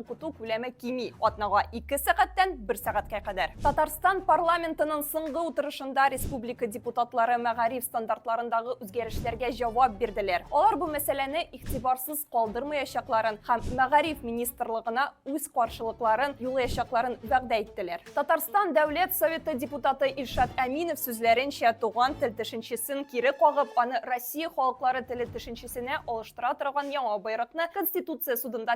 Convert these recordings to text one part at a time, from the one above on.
Укыту күләме кими, атнага 2 сәгатьтән 1 сәгатькә кадәр. Татарстан парламентының соңгы утырышында республика депутатлары мәгариф стандартларындагы үзгәрешләргә җавап бирделәр. Алар бу мәсьәләне игътибарсыз калдырмаячакларын һәм мәгариф министрлыгына үз каршылыкларын юлаячакларын вәгъдә иттеләр. Татарстан Дәүләт Советы депутаты Илшат Әминов сүзләренчә, туган тел төшенчесен кире кагып, аны Россия халыклары теле төшенчесенә алыштыра торган яңа боерыкны Конституция судында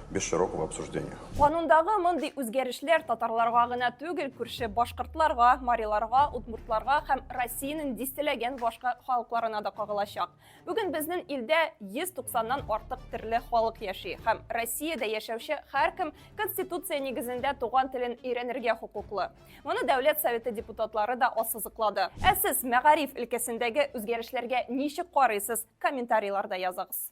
без широкого обсуждения. Канундагы мондый үзгәрешләр татарларга гына түгел, күрше башкортларга, мариларга, удмуртларга һәм Россиянең дистәләгән башка халыкларына да кагылачак. Бүген безнең илдә 190-нан артык төрле халык яши һәм Россиядә яшәүче һәркем Конституция нигезендә туган телен өйрәнергә хокуклы. Моны Дәүләт Советы депутатлары да ассызыклады. Ә сез мәгариф өлкәсендәге үзгәрешләргә ничек карыйсыз? Комментарийларда языгыз.